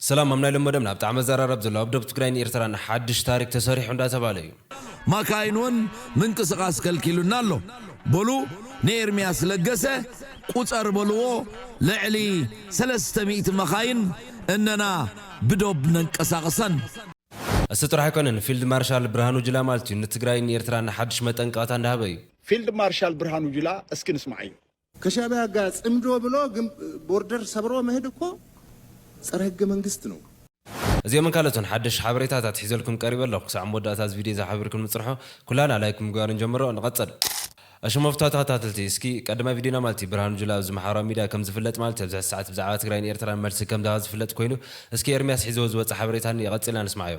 ሰላም ኣብ ናይ ሎሚ መደብና ብጣዕሚ ኣዘራራቢ ዘሎ ኣብ ዶብ ትግራይን ኤርትራን ሓድሽ ታሪክ ተሰሪሑ እንዳተባህለ እዩ። ማካይን ውን ምንቅስቃስ ከልኪሉና ኣሎ በሉ ንኤርሚያስ ለገሰ ቁጸር በልዎ ልዕሊ ሰለስተ ሚእቲ መካይን እነና ብዶብ ነንቀሳቅሰን። እሱ ጥራሕ ኣይኮነን ፊልድ ማርሻል ብርሃኑ ጁላ ማለት እዩ ንትግራይን ኤርትራን ሓድሽ መጠንቀቅታ እንዳሃበ እዩ። ፊልድ ማርሻል ብርሃኑ ጁላ እስኪ ንስምዓዮ። ከሻቢያ ጋር ጽምዶ ብሎ ቦርደር ሰብሮ መህድ እኮ ጸረ ህገ መንግስት ነው። እዚኦምን ካልኦትን ሓደሽቲ ሓበሬታታት ሒዘልኩም ቀሪበ ኣለኹ። ክሳዕ መወዳእታ እዚ ቪድዮ እዚ ሓቢርኩም ንጽንሖ። ኩላህና ላይክ ብምግባር ንጀምሮ። ንቐጽል። እሺ መፍቶ ተኸታተልቲ እስኪ ቀዳማይ ቪድዮና ማለት እዩ ብርሃኑ ጁላ ኣብዚ ማሓበራዊ ሚድያ ከም ዝፍለጥ ማለት እዩ ኣብዚ ሕዚ ሰዓት ብዛዕባ ትግራይን ኤርትራን መልሲ ከም ዝሃባ ዝፍለጥ ኮይኑ እስኪ ኤርሚያስ ሒዝዎ ዝወጸ ሓበሬታ እኒኤ ቀጺልና ንስማዓዮ።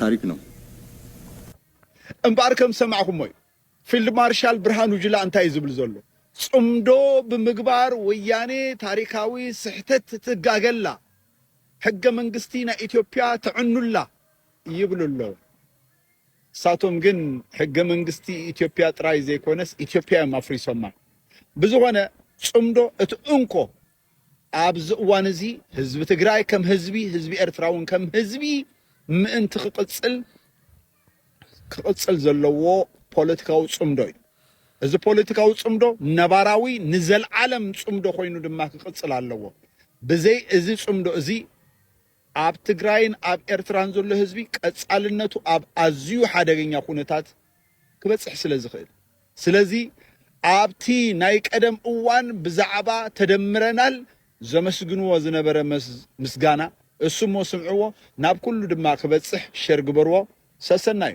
ታሪክ ነው። እምበኣር ከም ዝሰማዕኩሞ እዩ ፊልድ ማርሻል ብርሃኑ ጁላ እንታይ እዩ ዝብል ዘሎ ጽምዶ ብምግባር ወያኔ ታሪካዊ ስሕተት ትጋገላ ሕገ መንግስቲ ናይ ኢትዮፕያ ተዕኑላ ይብሉ ኣለዉ ንሳቶም ግን ሕገ መንግስቲ ኢትዮፕያ ጥራይ ዘይኮነስ ኢትዮፕያ እዮም ኣፍሪሶማ ብዝኾነ ጽምዶ እቲ እንኮ ኣብዚ እዋን እዚ ህዝቢ ትግራይ ከም ህዝቢ፣ ህዝቢ ኤርትራ እውን ከም ህዝቢ ምእንቲ ክቕጽል ክቕጽል ዘለዎ ፖለቲካዊ ጽምዶ እዩ። እዚ ፖለቲካዊ ጽምዶ ነባራዊ ንዘልዓለም ጽምዶ ኮይኑ ድማ ክቕጽል ኣለዎ። ብዘይ እዚ ጽምዶ እዚ ኣብ ትግራይን ኣብ ኤርትራን ዘሎ ህዝቢ ቀጻልነቱ ኣብ ኣዝዩ ሓደገኛ ኩነታት ክበጽሕ ስለ ዝኽእል። ስለዚ ኣብቲ ናይ ቀደም እዋን ብዛዕባ ተደምረናል ዘመስግንዎ ዝነበረ ምስጋና እሱሞ ስምዕዎ ናብ ኩሉ ድማ ክበጽሕ ሸር ግበርዎ ሰሰናዩ።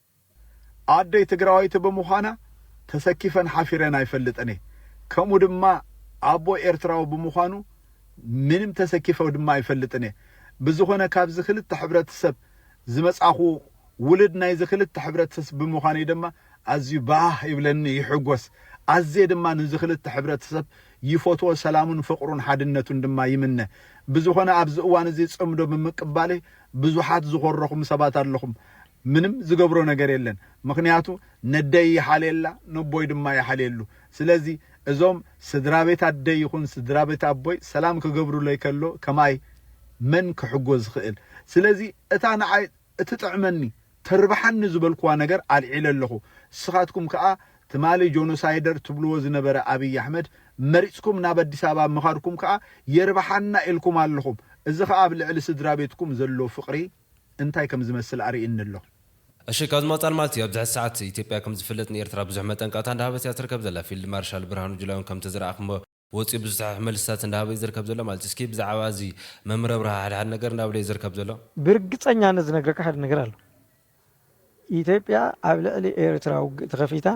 ኣደይ ትግራወይቲ ብምዃና ተሰኪፈን ሓፊረን ኣይፈልጥን እየ ከምኡ ድማ ኣቦይ ኤርትራዊ ብምዃኑ ምንም ተሰኪፈ ድማ ኣይፈልጥን እየ ብዝኾነ ካብዚ ክልተ ሕብረተሰብ ዝመፃኹ ውልድ ናይዚ ክልተ ሕብረተሰብ ብምዃነይ ድማ ኣዝዩ ባህ ይብለኒ ይሕጎስ ኣዝየ ድማ ንዚ ክልተ ሕብረተሰብ ይፎትዎ ሰላሙን ፍቅሩን ሓድነቱን ድማ ይምነ ብዝኾነ ኣብዚ እዋን እዚ ፅምዶ ብምቅባለይ ብዙሓት ዝኾረኹም ሰባት ኣለኹም ምንም ዝገብሮ ነገር የለን ምኽንያቱ ነደይ ይሓልየላ ነቦይ ድማ ይሓልየሉ ስለዚ እዞም ስድራቤት ኣደይ ይኹን ስድራቤት ኣቦይ ሰላም ክገብሩለይ ከሎ ከማይ መን ክሕጎ ዝኽእል ስለዚ እታ ንዓይ እትጥዕመኒ ተርብሓኒ ዝበልኩዋ ነገር ኣልዒለ ኣለኹ ንስኻትኩም ከኣ ትማሊ ጆኖሳይደር ትብልዎ ዝነበረ ኣብይ ኣሕመድ መሪጽኩም ናብ ኣዲስ ኣበባ ምኻድኩም ከኣ የርብሓና ኢልኩም ኣለኹም እዚ ከኣ ኣብ ልዕሊ ስድራቤትኩም ዘሎ ፍቕሪ እንታይ ከም ዝመስል ኣርእዩኒ ኣሎ። እሺ ካብዚ ምቕጻል ማለት እዩ ኣብዚ ሕዚ ሰዓት ኢትዮጵያ ከም ዝፍለጥ ንኤርትራ ብዙሕ መጠንቀቕታ እንዳሃበት እያ ትርከብ ዘላ ፊልድ ማርሻል ብርሃኑ ጁላ ውን ከምቲ ዝረኣኽሞ ወጺኡ ብዙ ሰሓሒ መልስታት እንዳሃበ እዩ ዝርከብ ዘሎ ማለት እዩ እስኪ ብዛዓባ እዚ መምር ኣብርሃ ሓደ ሓደ ነገር እንዳበለ እዩ ዝርከብ ዘሎ። ብርግጸኛነት ዝነግረካ ሓደ ነገር ኣሎ ኢትዮጵያ ኣብ ልዕሊ ኤርትራ ውግእ ተኸፊታ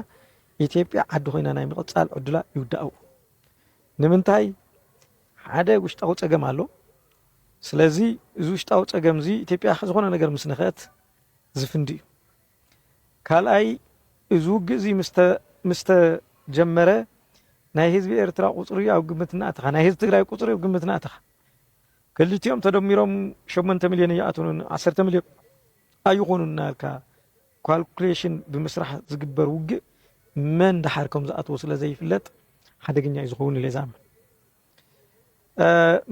ኢትዮጵያ ዓዲ ኮይና ናይ ምቕጻል ዕዱላ ይውዳኣኡ ንምንታይ ሓደ ውሽጣዊ ጸገም ኣሎ። ስለዚ እዚ ውሽጣዊ ጸገም'ዚ ኢትዮጵያ ዝኾነ ነገር ምስ ነኽአት ዝፍንድ'ዩ። ካልኣይ እዚ ውግእ'ዚ ምስ ተጀመረ ናይ ህዝቢ ኤርትራ ቁጽሪ ኣብ ግምት እናእተኻ፣ ናይ ህዝቢ ትግራይ ቁጽሪ ኣብ ግምት እናእተኻ ክልቲኦም ተደሚሮም ሸሞንተ ሚልዮን ኣይኣትዉን፣ ዓሰርተ ሚልዮን ኣይኾኑን እናበልካ ኳልኩሌሽን ብምስራሕ ዝግበር ውግእ መን ደሓር ከም ዝኣትዎ ስለ ዘይፍለጥ ሓደገኛ እዩ ዝኸውን ኢለ ዝኣምን።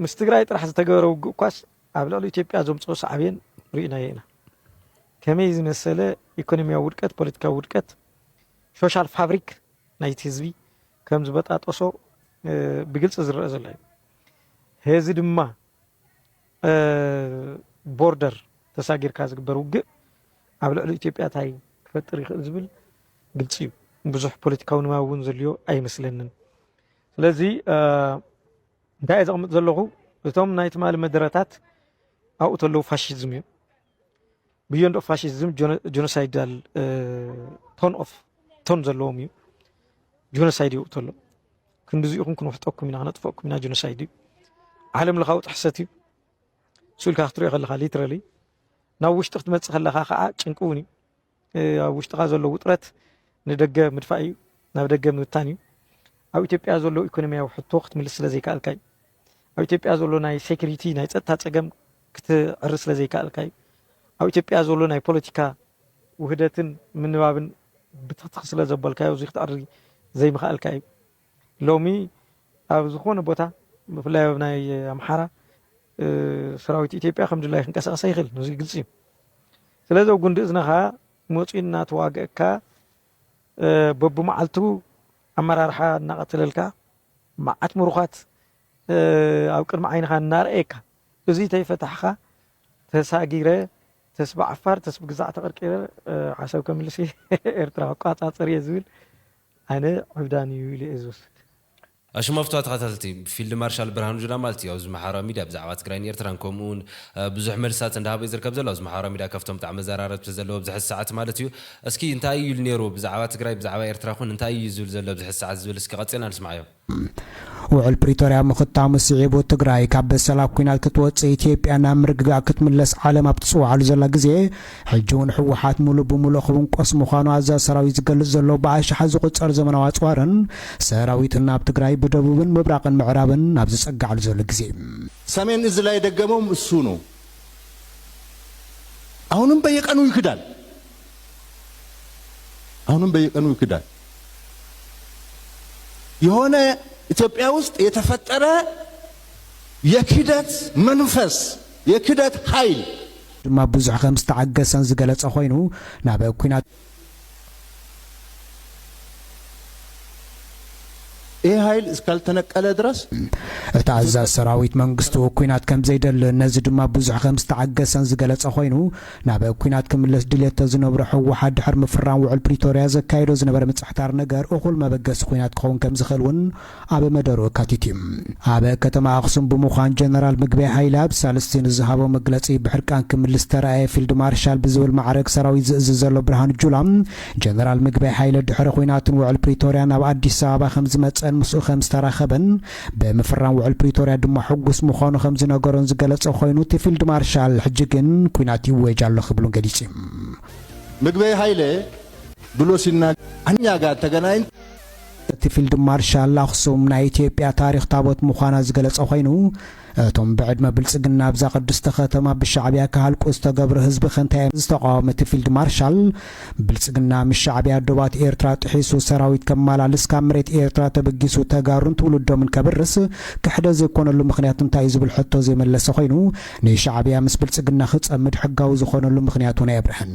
ምስ ትግራይ ጥራሕ ዝተገበረ ውግእ እኳስ ኣብ ልዕሊ ኢትዮጵያ ዘምፅኦ ሳዕቤን ርኢናዮ ኢና። ከመይ ዝመሰለ ኢኮኖሚያዊ ውድቀት ፖለቲካዊ ውድቀት ሶሻል ፋብሪክ ናይቲ ህዝቢ ከም ዝበጣጠሶ ብግልፂ ዝረአ ዘሎ እዩ። ህዚ ድማ ቦርደር ተሳጊርካ ዝግበር ውግእ ኣብ ልዕሊ ኢትዮጵያ እንታይ ክፈጥር ይኽእል ዝብል ግልፂ እዩ። ብዙሕ ፖለቲካዊ ንባብ እውን ዘልዮ ኣይመስለንን። ስለዚ እንታይ እየ ዘቕምጥ ዘለኹ እቶም ናይ ትማሊ መደረታት ኣብኡ ተለዉ ፋሽዝም እዩ። ብዮንድ ኦፍ ፋሽዝም ጆኖሳይዳል ቶን ኦፍ ቶን ዘለዎም እዩ ጆኖሳይድ ይውእቶ ኣሎ ክንዲዚ ኢኹም ክንውሕጠኩም ኢና ክነጥፈኩም ኢና ጆኖሳይድ እዩ ዓለም ለኻዊ ጥሕሰት እዩ ስኡልካ ክትሪኦ ከለካ ሊትራሊ ናብ ውሽጢ ክትመፅእ ከለካ ከዓ ጭንቂ እውን እዩ ኣብ ውሽጥኻ ዘሎ ውጥረት ንደገ ምድፋእ እዩ፣ ናብ ደገ ምብታን እዩ። ኣብ ኢትዮጵያ ዘሎ ኢኮኖሚያዊ ሕቶ ክትምልስ ስለዘይከኣልካ እዩ። ኣብ ኢትዮጵያ ዘሎ ናይ ሴኩሪቲ ናይ ፀጥታ ፀገም ክትዕሪ ስለዘይከኣልካ እዩ። ኣብ ኢትዮጵያ ዘሎ ናይ ፖለቲካ ውህደትን ምንባብን ብትኽትኽ ስለዘበልካዮ እዚ ክትዕሪ ዘይምኽኣልካ እዩ። ሎሚ ኣብ ዝኾነ ቦታ ብፍላይ ኣብ ናይ ኣምሓራ ሰራዊት ኢትዮጵያ ከም ድላይ ክንቀሳቀስ ኣይኽእልን እዚ ግልፂ እዩ ስለዚ ኣብ ጉንዲ እዝነኻ መፂኡ እናተዋገእካ በብመዓልቱ ኣመራርሓ እናቐተለልካ መዓት ምሩኻት ኣብ ቅድሚ ዓይንኻ እናርኣየካ እዚ ተይፈታሕኻ ተሳጊረ ተስቢ ዓፋር ተስቢ ግዛዕ ተቐርቂረ ዓሰብ ከምልስ ኤርትራ ክቋፃፀር እየ ዝብል ኣነ ዕብዳን እዩ ኢለ እየ ዝወስድ። ኣሽማፍቶ ኣተኻታተልቲ ብፊልድ ማርሻል ብርሃኑ ጁላ ማለት እዩ ኣብዚ ማሕበራዊ ሚድያ ብዛዕባ ትግራይን ኤርትራን ከምኡ ውን ብዙሕ መልስታት እንዳሃበ እዩ ዝርከብ ዘሎ ኣብዚ ማሕበራዊ ሚድያ ካብቶም ብጣዕሚ መዘራረብቲ ዘለዎ ኣብዚ ሕዚ ሰዓት ማለት እዩ እስኪ እንታይ እዩ ኢሉ ኔሩ ብዛዕባ ትግራይ ብዛዕባ ኤርትራ ኹን እንታይ እዩ ዝብል ዘሎ ኣብዚ ሕዚ ሰዓት ዝብል እስኪ ቀጺልና ንስምዓዮ። ውዕል ፕሪቶርያ ምኽታሙ ስዒቡ ትግራይ ካብ በሰላ ኩናት ክትወፅእ ኢትዮጵያ ናብ ምርግጋእ ክትምለስ ዓለም ኣብ ትፅውዓሉ ዘላ ግዜ ሕጂ እውን ህወሓት ሙሉእ ብሙሉእ ክውንቆስ ምዃኑ ኣዛዚ ሰራዊት ዝገልፅ ዘሎ ብኣሽሓት ዝቑፀር ዘመናዊ ኣፅዋርን ሰራዊትን ናብ ትግራይ ብደቡብን ምብራቕን ምዕራብን ኣብ ዝፀግዓሉ ዘሎ ግዜ ሰሜን እዝ ላይ የደገመውም እሱ ነው። አሁንም በየቀኑ ይክዳል። አሁንም በየቀኑ ይክዳል። የሆነ ኢትዮጵያ ውስጥ የተፈጠረ የክህደት መንፈስ የክህደት ሀይል። ድማ ብዙሕ ከም ዝተዓገሰን ዝገለጸ ኮይኑ ናብ ኩናት። ይህ ኃይል እስካልተነቀለ ድረስ። እቲ ኣዛዚ ሰራዊት መንግስቱ ኲናት ከምዘይደልን ነዚ ድማ ብዙሕ ከምዝተዓገሰን ዝገለጸ ኮይኑ፣ ናብ ኲናት ክምለስ ድልየት ተዝነብሮ ህወሓት ድሕሪ ምፍራም ውዑል ፕሪቶርያ ዘካይዶ ዝነበረ ምጽሕታር ነገር እኹል መበገሲ ኲናት ክኸውን ከምዝኽእል እውን ኣብ መደርኡ ኣካቲቱ እዩ። ኣብ ከተማ ኣኽሱም ብምዃን ጀነራል ምግበይ ሃይለ ኣብ ሳልስቲ ንዝሃቦ መግለጺ ብሕርቃን ክምልስ ዝተራእየ ፊልድ ማርሻል ብዝብል ማዕረግ ሰራዊት ዝእዝዝ ዘሎ ብርሃኑ ጁላ ጀነራል ምግበይ ሃይለ ድሕሪ ኹናትን ውዕል ፕሪቶርያን ናብ ኣዲስ ኣበባ ከምዝመፀን ምስኡ ከምዝተራኸበን ብምፍራም ውዕል ፕሪቶርያ ድማ ሕጉስ ምዃኑ ከምዝነገሮን ዝገለፀ ኾይኑ እቲ ፊልድ ማርሻል ሕጂ ግን ኲናት ይወጅ ኣሎ ክብሉን ገሊፂም። ምግበይ ሃይለ ብሎ ሲናገር እኛ ጋር ተገናኝተን እቲ ፊልድ ማርሻል ኣኽሱም ናይ ኢትዮጵያ ታሪኽ ታቦት ምዃና ዝገለፀ ኮይኑ እቶም ብዕድመ ብልፅግና ኣብዛ ቅድስቲ ከተማ ብሻዕቢያ ክሃልቁ ዝተገብሩ ህዝቢ ከ እንታይ እዮም ዝተቃወመ እቲ ፊልድ ማርሻል ብልፅግና ምስ ሻዕቢያ ዶባት ኤርትራ ጥሒሱ ሰራዊት ከማላልስ ካብ መሬት ኤርትራ ተበጊሱ ተጋሩን ትውልዶምን ከብርስ ክሕደ ዘይኮነሉ ምኽንያት እንታይ እዩ ዝብል ሕቶ ዘይመለሰ ኮይኑ ንሻዕቢያ ምስ ብልፅግና ክፀምድ ሕጋዊ ዝኾነሉ ምኽንያት እውን ኣየብርሀን።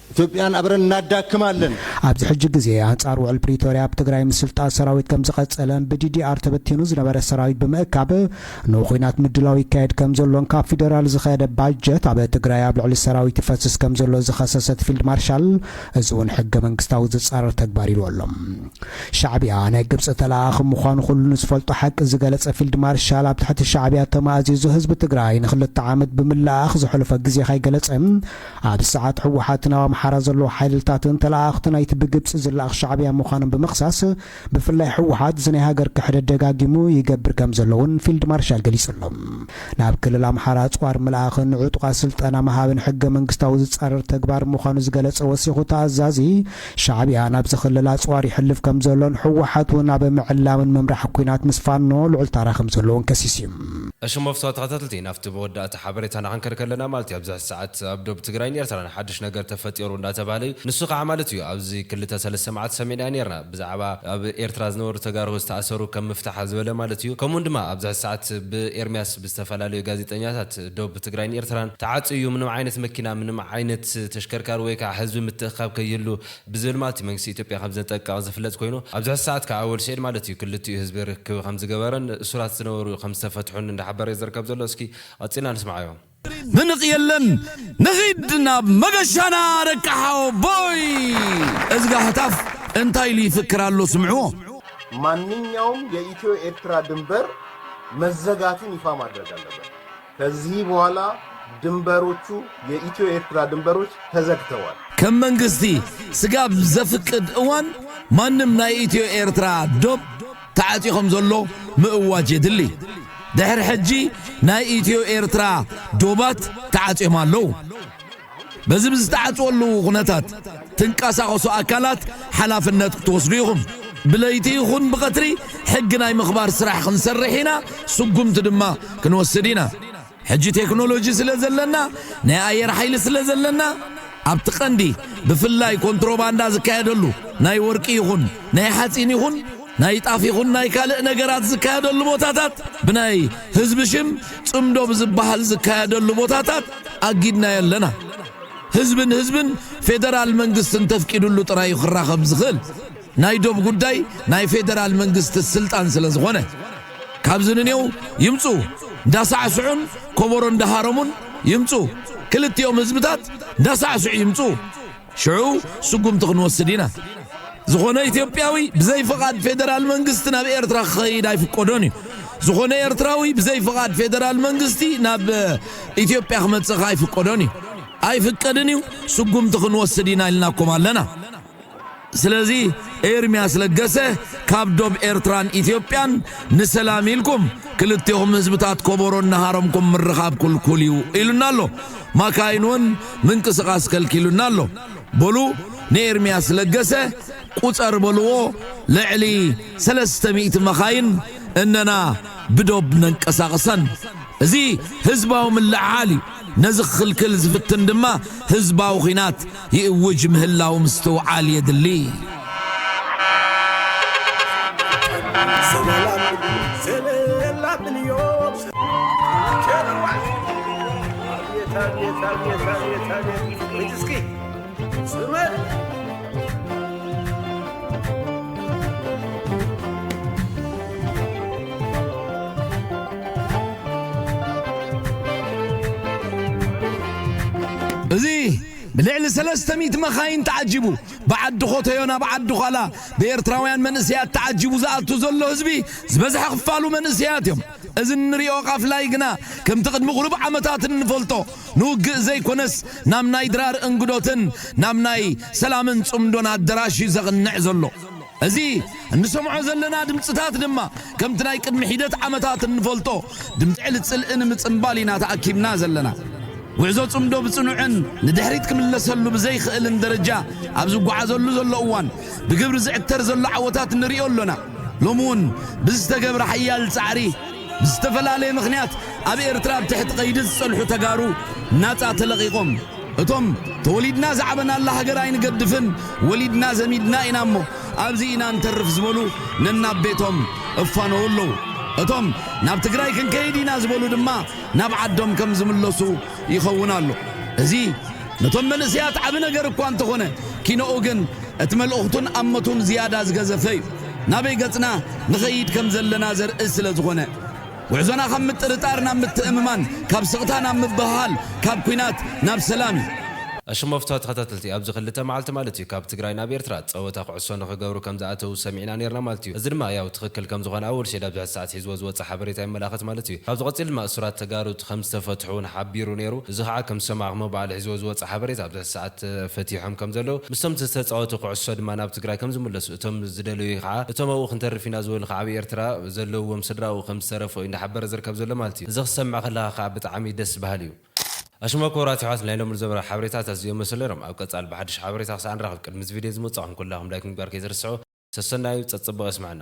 ኢትዮጵያን ኣብረን እናዳክማ ኣለን። ኣብዚ ሕጂ ግዜ ኣንጻር ውዕል ፕሪቶርያ ኣብ ትግራይ ምስልጣን ሰራዊት ከምዝቐጸለን ብዲዲኣር ተበቲኑ ዝነበረ ሰራዊት ብምእካብ ንኹናት ምድላው ይካየድ ከምዘሎን ካብ ፊደራል ዝኸደ ባጀት ኣብ ትግራይ ኣብ ልዕሊ ሰራዊት ይፈስስ ከምዘሎ ዝኸሰሰት ፊልድ ማርሻል እዚ እውን ሕገ መንግስታዊ ዝጻረር ተግባር ኢልዎ ኣሎ። ሻዕቢያ ናይ ግብጺ ተለኣኣኺ ምዃኑ ኩሉ ንዝፈልጦ ሓቂ ዝገለጸ ፊልድ ማርሻል ኣብ ትሕቲ ሻዕቢያ ተማእዚዙ ህዝቢ ትግራይ ንክልተ ዓመት ብምልእኣኽ ዘሕለፎ ግዜ ከይገለጸ ኣብዚ ሰዓት ህወሓትን ኣብ ኣምሓራ ዘለዉ ሓይልልታትን ተለኣኣኽቲ ናይቲ ብግብፂ ዝለኣኽ ሻዕብያ ምዃኖም ብምኽሳስ ብፍላይ ህወሓት እዚ ናይ ሃገር ክሕደት ደጋጊሙ ይገብር ከምዘሎ እውን ፊልድ ማርሻል ገሊፁ ኣሎ። ናብ ክልል ኣምሓራ ኣፅዋር ምልኣኽን ንዕጡቓት ስልጠና ምሃብን ሕገ መንግስታዊ ዝፃረር ተግባር ምዃኑ ዝገለፀ ወሲኹ እቲ ኣዛዚ ሻዕብያ ናብዚ ክልል ኣፅዋር ይሕልፍ ከምዘሎን ህወሓት እውን ኣብ ምዕላምን ምምራሕ ኲናት ምስ ፋኖ ልዑል ታራ ከምዘለዎን ከሲሱ እዩ። እሽሞፍቶ ተኸታተልቲ ናፍቲ ብወዳእታ ሓበሬታ ንዓንከር ከለና ማለት እዩ ኣብዚ ሕዚ ሰዓት ኣብ ዶብ ትግራይን ኤርትራን ሓድሽ ነገር ተፈጢሩ እንዳተባህለ እዩ ንሱ ካዓ ማለት እዩ ኣብዚ ክልተ ሰለስተ ማዓልቲ ሰሚዕናዮ ኔርና ብዛዕባ ኣብ ኤርትራ ዝነበሩ ተጋሩ ዝተኣሰሩ ከም ምፍታሓ ዝበለ ማለት እዩ ከምኡ ውን ድማ ኣብዚ ሕዚ ሰዓት ብኤርምያስ ብዝተፈላለዩ ጋዜጠኛታት ዶብ ትግራይን ኤርትራን ተዓፅዩ እዩ ምንም ዓይነት መኪና ምንም ዓይነት ተሽከርካሪ ወይ ካዓ ህዝቢ ምትእክካብ ከይህሉ ብዝብል ማለት እዩ መንግስቲ ኢትዮጵያ ከም ዘጠንቀቐ ዝፍለጥ ኮይኑ ኣብዚ ሕዚ ሰዓት ክኣ ወል ስዒድ ማለት እዩ ክልቲኡ ህዝቢ ርክብ ከም ዝገበረን እሱራት ዝነበሩ ከም ዝተፈትሑን እንዳሓበረ እዩ ዝርከብ ዘሎ እስኪ ቐጺልና ንስምዓዮ። ምንቕ የለን ንኺድ ናብ መገሻና ደቂ ሓወቦይ። እዝጋ ህታፍ እንታይ ኢሉ ይፍክር ኣሎ ስምዕዎ። ማንኛውም የኢትዮ ኤርትራ ድንበር መዘጋትን ይፋ ማድረግ ኣለበት። ከዚህ በኋላ ድንበሮቹ የኢትዮ ኤርትራ ድንበሮች ተዘግተዋል። ከም መንግስቲ ስጋ ኣብ ዘፍቅድ እዋን ማንም ናይ ኢትዮ ኤርትራ ዶብ ተዓጽዩ ከም ዘሎ ምእዋጅ የድሊ። ድሕሪ ሕጂ ናይ ኢትዮ ኤርትራ ዶባት ተዓጽዮም ኣለዉ። በዚ ብዝተዓጽወሉ ኩነታት ትንቀሳቐሱ ኣካላት ሓላፍነት ክትወስዱ ኢኹም። ብለይቲ ይኹን ብቐትሪ ሕጊ ናይ ምኽባር ስራሕ ክንሰርሕ ኢና፣ ስጉምቲ ድማ ክንወስድ ኢና። ሕጂ ቴክኖሎጂ ስለ ዘለና፣ ናይ ኣየር ሓይሊ ስለ ዘለና፣ ኣብቲ ቀንዲ ብፍላይ ኮንትሮባንዳ ዝካየደሉ ናይ ወርቂ ይኹን ናይ ሓጺን ይኹን ናይ ጣፍ ይኹን ናይ ካልእ ነገራት ዝካየደሉ ቦታታት ብናይ ህዝቢ ሽም ጽምዶ ብዝበሃል ዝካየደሉ ቦታታት ኣጊድናዮ ኣለና። ህዝቢ ንህዝብን ፌደራል መንግስትን ተፍቂድሉ ጥራይ እዩ ክራኸብ ዝኽእል። ናይ ዶብ ጉዳይ ናይ ፌደራል መንግስቲ ስልጣን ስለ ዝኾነ። ካብዚ ንኔው ይምጹ እንዳሳዕስዑን ኮቦሮ እንዳሃረሙን ይምጹ ክልቲኦም ህዝብታት እንዳሳዕስዑ ይምጹ። ሽዑ ስጉምቲ ክንወስድ ኢና። ዝኾነ ኢትዮጵያዊ ብዘይ ፍቓድ ፌደራል መንግስቲ ናብ ኤርትራ ክኸይድ ኣይፍቀዶን እዩ። ዝኾነ ኤርትራዊ ብዘይ ፍቓድ ፌደራል መንግስቲ ናብ ኢትዮጵያ ክመጽእ ከኣ ኣይፍቀዶን እዩ። ኣይፍቀድን እዩ፣ ስጉምቲ ክንወስድ ኢና ኢልናኩም ኣለና። ስለዚ ኤርምያስ ለገሰ ካብ ዶብ ኤርትራን ኢትዮጵያን ንሰላም ኢልኩም ክልቴኹም ህዝብታት ኮቦሮ እናሃረምኩም ምርኻብ ኩልኩል እዩ ኢሉና ኣሎ። ማካይን ውን ምንቅስቃስ ከልኪሉና ኣሎ በሉ ንኤርሚያስ ለገሰ ቁጸር በልዎ ልዕሊ ሰለስተ ሚእቲ መኻይን እነና ብዶብ ነንቀሳቅሰን እዚ ህዝባዊ ምልዕዓል እዩ ነዚ ክኽልክል ዝፍትን ድማ ህዝባዊ ኹናት ይእውጅ ምህላው ምስትውዓል የድሊ። ብልዕሊ ሰለስተ ሚእቲ መኻይን ተዓጂቡ ብዓዲ ኾተዮ ናብ ዓዲ ዃላ ብኤርትራውያን መንእሰያት ተዓጂቡ ዝኣቱ ዘሎ ህዝቢ ዝበዝሐ ክፋሉ መንእሰያት እዮም። እዚ እንሪኦ ቃፍላይ ግና ከምቲ ቅድሚ ቁሩብ ዓመታት እንፈልጦ ንውግእ ዘይኮነስ ናብ ናይ ድራር እንግዶትን ናብ ናይ ሰላምን ጽምዶን ኣደራሽ እዩ ዘቕንዕ ዘሎ። እዚ እንሰምዖ ዘለና ድምጽታት ድማ ከምቲ ናይ ቅድሚ ሒደት ዓመታት እንፈልጦ ድምጺ ዕሊ ጽልኢ ንምጽንባል ኢና ተኣኪብና ዘለና። ጉዕዞ ጽምዶ ብጽኑዕን ንድሕሪት ክምለሰሉ ብዘይክእልን ደረጃ ኣብ ዝጓዓዘሉ ዘሎ እዋን ብግብሪ ዝዕተር ዘሎ ዓወታት ንሪኦ ኣሎና። ሎሚ እውን ብዝተገብረ ሓያል ጻዕሪ፣ ብዝተፈላለየ ምኽንያት ኣብ ኤርትራ ኣብ ትሕቲ ቀይዲ ዝጸንሑ ተጋሩ ናጻ ተለቒቖም። እቶም ተወሊድና ዝዓበናላ ሃገር ኣይንገድፍን፣ ወሊድና ዘሚድና ኢና እሞ ኣብዚ ኢና ንተርፍ ዝበሉ ነናብ ቤቶም እፋነዉ ኣለዉ። እቶም ናብ ትግራይ ክንከይድ ኢና ዝበሉ ድማ ናብ ዓዶም ከም ዝምለሱ ይኸውን ኣሎ። እዚ ነቶም መንእሰያት ዓቢ ነገር እኳ እንተኾነ ኪኖኡ ግን እቲ መልእኽቱን ኣመቱን ዝያዳ ዝገዘፈ እዩ። ናበይ ገጽና ንኸይድ ከም ዘለና ዘርኢ ስለ ዝኾነ። ጉዕዞና ካብ ምጥርጣር ናብ ምትእምማን፣ ካብ ስቕታ ናብ ምብህሃል፣ ካብ ኩናት ናብ ሰላም እዩ። ኣሽሞፍታ ተኸታተልቲ ኣብዚ ክልተ መዓልቲ ማለት እዩ ካብ ትግራይ ናብ ኤርትራ ጸወታ ኩዕሶ ንኽገብሩ ከም ዝኣተዉ ሰሚዕና ኔርና ማለት እዩ እዚ ድማ ያው ትኽክል ከም ዝኾነ ኣወል ሼድ ኣብዚ ሕዚ ሰዓት ሒዝዎ ዝወጸ ሓበሬታ የመላኽት ማለት እዩ ካብዚ ቀጺሉ ድማ እሱራት ተጋሩ ከም ዝተፈትሑ ውን ሓቢሩ ኔሩ እዚ ኻዓ ከም ዝሰማዕክሞ በዓል ሒዝዎ ዝወጸ ሓበሬታ ኣብዚ ሕዚ ሰዓት ተፈቲሖም ከም ዘለዉ ምስቶም ዝተጻወቱ ኩዕሶ ድማ ናብ ትግራይ ከም ዝምለሱ እቶም ዝደለዩ ከኣ እቶም ኣብኡ ክንተርፍ ኢና ዝበሉ ከኣ ኣብ ኤርትራ ዘለውዎም ስድራኡ ከም ዝተረፉ እዩ እንዳሓበረ ዝርከብ ዘሎ ማለት እዩ። እዚ ክትሰምዕ ከለኻ ከኣ ብጣዕሚ ደስ በሃሊ እዩ። ኣሽማ ኩቡራት የሕዋት ናይ ሎሚ ዝነበረ ሓበሬታት ኣዚዮም መሰል ነይሮም ኣብ ቀጻሊ ብሓድሽ ሓበሬታ ክሳዕ ንራኸብ ቅድሚ እዚ ቪድዮ እዚ ምውጻኹም ኩላኹም ላይክ ምግባር ከይትርስዑ ሰሰናዩ ጸጽቡቕ የስመዐና።